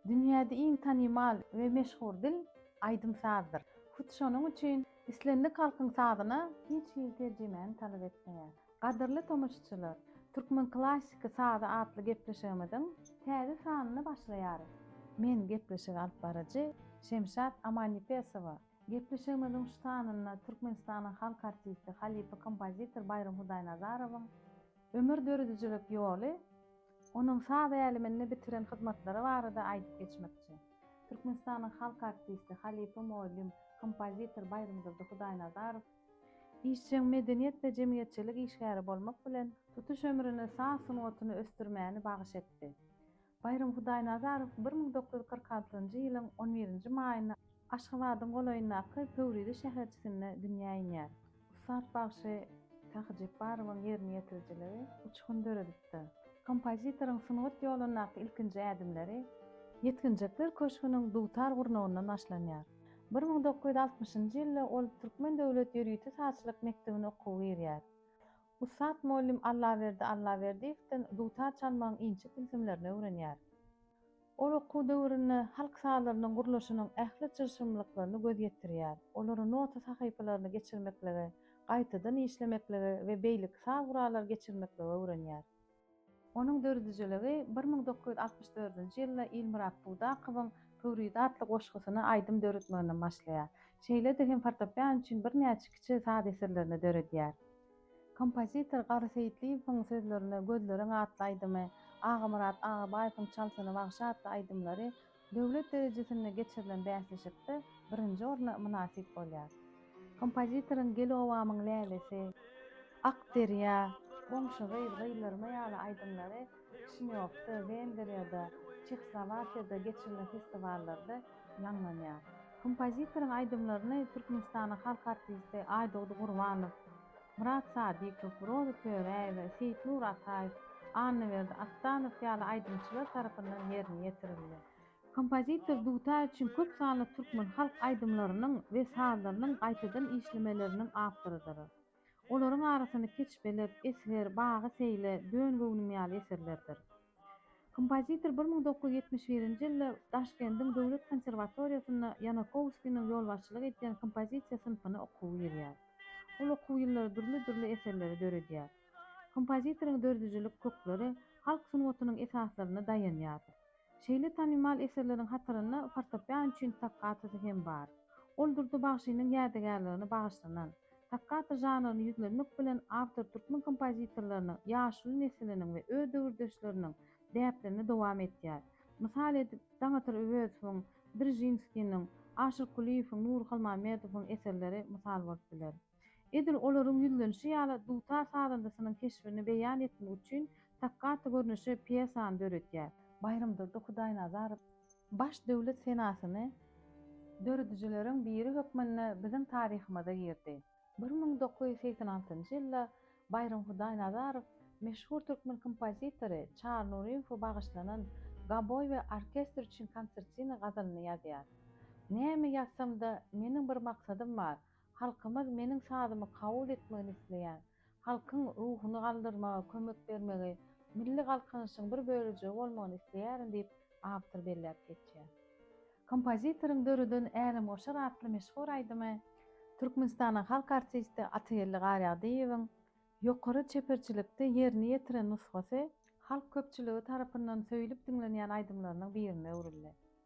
Dünýäde iň tanymal we meşhur dil aýdym-sazdyr. Hut şonuň üçin islendik halkyň sazyna hiç hili terjimäni talap etmeýär. Gadyrly tomaşaçylar, Türkmen klassyky sazy atly gepleşigimiziň täze sanyny başlaýarys. Men gepleşigi alyp baryjy Şemşat Amannepesowa. Gepleşigimiziň şu sanynda Türkmenistanyň halk artisti, halypa kompozitor Baýram Hudaýnazarowyň ömür döredijilik ýoly, onuň saz äleminde bitiren hyzmatlary barada aýdyp geçmekçi. Türkmenistanyň halk artisti, halypa mugallym, kompozitor Baýramdurdy Hudaýnazarow Işjeň medeniýet we jemgyýetçilik işgäri bolmak bilen, tutuş ömrüni saz sungatyny ösdürmäni bagyş etdi. Baýram Hudaýnazarow bir müň dokuz ýüz kyrk altynjy ýylyň on birinji maýynda Aşgabadyň golaýyndaky Pöwrize şäherçisinde dünýä inýär. Ussat bagşy Sähy Jepbarowyň ýerine ýetirijiligi uçgun döredipdir. Kompozitoryň sungat ýolundaky ilkinji ädimleri Ýetginjekler köşgüniň dutar gurnagyndan başlanýar. Bir müň dokuz ýüz altmyşynjy ýylda ol Türkmen döwlet ýörite sazçylyk mekdebine okuwa girýär. Ussat mugallym Allaberdi Allaberdiýewden dutar çalmagyň inçe tilsimlerini öwrenýär. Ol okuw döwründe halk sazlarynyň gurluşynyň ähli çylşyrymlyklaryny göz ýetirýär, olary nota sahypalaryny geçirmekligi, gaýtadan işlemeklige we beýleki saz gurallary geçirmekligi öwrenýär. Onuň dördüjiligi bir müň dokuz ýüz altmyş dördünji ýylda Ilmyrat Budakowyň Pöwrize atly goşgusyny aýdym döretmeginden başlaýar. Şeýle-de hem fortepian üçin birnäçe kiçi saz eserlerini döredýär. Kompozitor Garry Seýitliýewiň sözlerine Gözleriň atly aýdymy, Agamyrat Agabaýewiň Çalsyny wagşy atly aýdymlary Döwlet derejesinde geçirilen bäsleşikde birinji orna mynasyp bolýar. Kompozitoryň Gel obamyň lälesi, Ak derýa, Goňşy gyz, Gyzlarma ýaly aýdymlary Kişinýowda, Wengriýada, Çehslowakiýada geçirilen festiwallarda ýaňlanýar. Kompozitoryň aýdymlaryny Türkmenistanyň halk artisti Aýdogdy Gurbanow, Myrat Sadykow, Roza Töräýewa, Seýitnur Ataýew, Annaberdi Atdanow ýaly aýdymçylar tarapyndan ýerine ýetirildi. Kompozitor dutar üçin köp sanly türkmen halk aýdymlarynyň we sazlarynyň gaýtadan işlemeleriniň awtorydyr. Olaryň arasynda Keçbelet, Esger, Bagy seýle, Dön göwnüm ýaly eserlerdir. Kompozitor bir müň dokuz ýüz ýetmiş birinji ýylda Daşkendiň döwlet konserwatoriýasynda Ýanakowskiniň ýolbaşçylyk edýän kompozisiýa synpyna okuwa girýär. Ol okuw ýyllary dürli-dürli eserleri döredýär. Kompozitoryň döredijilik kökleri halk sungatynyň esaslaryna daýanýar. Şeýle tanymal eserleriň hatarynda fortopian üçin tokkatosy hem bar. Ol Durdy bagşynyň ýadygärligine bagyşlanan Sakgaty žanryny ýüzlenmek bilen awtor türkmen kompozitorlarynyň ýaşuly nesiliniň we öz döwürdeşleriniň däplerini dowam etýär. Mysal edip, Daňatar Öwezowyň, Drzynskiniň, Aşyr Kulyýewiň, Nury Halmamedowyň eserleri mysal bolup biler. Edil olaryň ýüzlenişi ýaly, dutar sazandasynyň keşbini beýan etmek üçin Stakkatu görnüşi pýesany döredýär. Baýramdurdy Hudaýnazarow baş döwlet senasyny döredijileriň biri hökmünde biziň taryhymyza girdi. Bir müň dokuz ýüz segsen altynjy ýylda Baýram Hudaýnazarow meşhur türkmen kompozitory Çary Nuryýewe bagyşlanan Gaboý we orkestr üçin konsertina gazalyny ýazýar. Näme ýazsam-da, meniň bir maksadym bar, halkymyz meniň sazymy kabul etmegini isleýär. Halkyň ruhuny galdyrmaga kömek bermegi milli galkynyşyň bir bölejigi bolmagyny isleýärin diýip, awtor belläp geçýär. Kompozitoryň döreden Älemgoşar atly meşhur aýdymy Türkmenistanyň halk artisti Atageldi Garýagdyýewiň ýokary çeperçilikde ýerine ýetiren nusgasy halk köpçüligi tarapyndan söýlüp diňlenýän aýdymlarynyň birine öwrüldi.